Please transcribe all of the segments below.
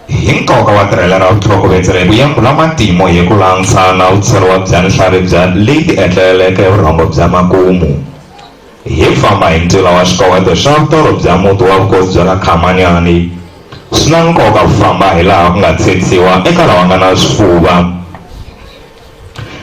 Hi nkoka wa tirhela ra vutlhokovetseri ku yevula matimu hi ku langusa na vutsheriwa bya nhlavi bya leyi ti etleleleke hi vurhongo bya makumu. Hi famba hi ntila wa xikoweto xa vutorho bya muti wa vukosi bya ka Khamanyani, swi na nkoka ku famba hi laha ku nga tshedisiwa eka lava nga na swifuva.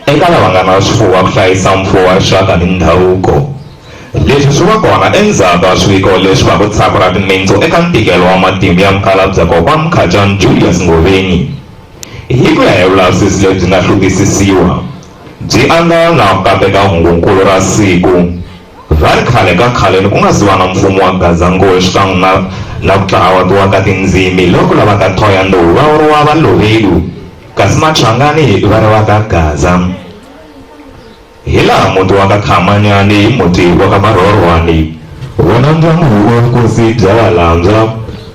Eka lava nga na swifuwo ku hlayisa mfuwo wa rixaka ni ndhavuko. Leswi swi va kona endzhaku ka swiviko leswi va ku thyaka ra timintsu eka ntikelo wa matimu ya Mukhalabye Kokwa Mkhacani Julius Ngoveni. Hi ku ya hi vulavisisi lebyi nga hluvukisisiwa, byi angarhela na ku kateka hungu-nkulu ra siku ra ri khale ka khaleni ku nga si va na mfumo wa Gaza-Ngoyi xikan'we na na ku tlhawatiwa ka tindzimi loku lavaka Thohoyandou va vuriwa Valovelu. kasi Matlhangani i vana va ka Gaza. Hi laha muti wa ka Khamanyani hi muti wa ka Marhorhwani. Wona ndyangu wa vukosi bya Valandzwa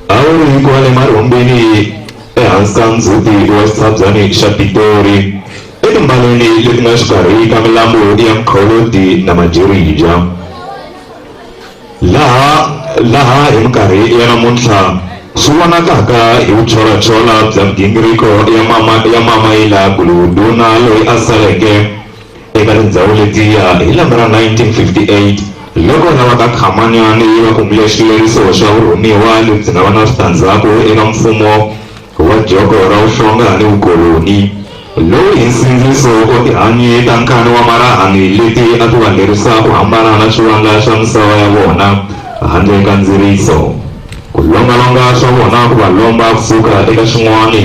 a wu ri kwale Marhumbini ehansi ka ndzhuti wa xitshabyani xa Pitori, etimbaleni leti nga xikarhi ka milambu ya Mqholodi na Majerija. Laha, laha hi minkarhi ya namuntlha swi vonakaka hi vucholachola bya migingiriko ya mama ya mama Yilagulu, ndhuna loyi a saleke eka tindzhawu letiya hi lembe ra 1958 loko rava ka Khamanyani yi va kumile xileriso xa vurhumiwa lebyi nga va na switandzhaku eka mfumo wa joko ra uhlonga ni ukoloni, lowu hi nsindziso wa tihanyi ta nkani wa marahani leti a ti va lerisa ku hambana na xivandla xa misava ya vona handle ka ndziriso, ku lombalomba swa vona ku va lomba ku suka eka xin'wani.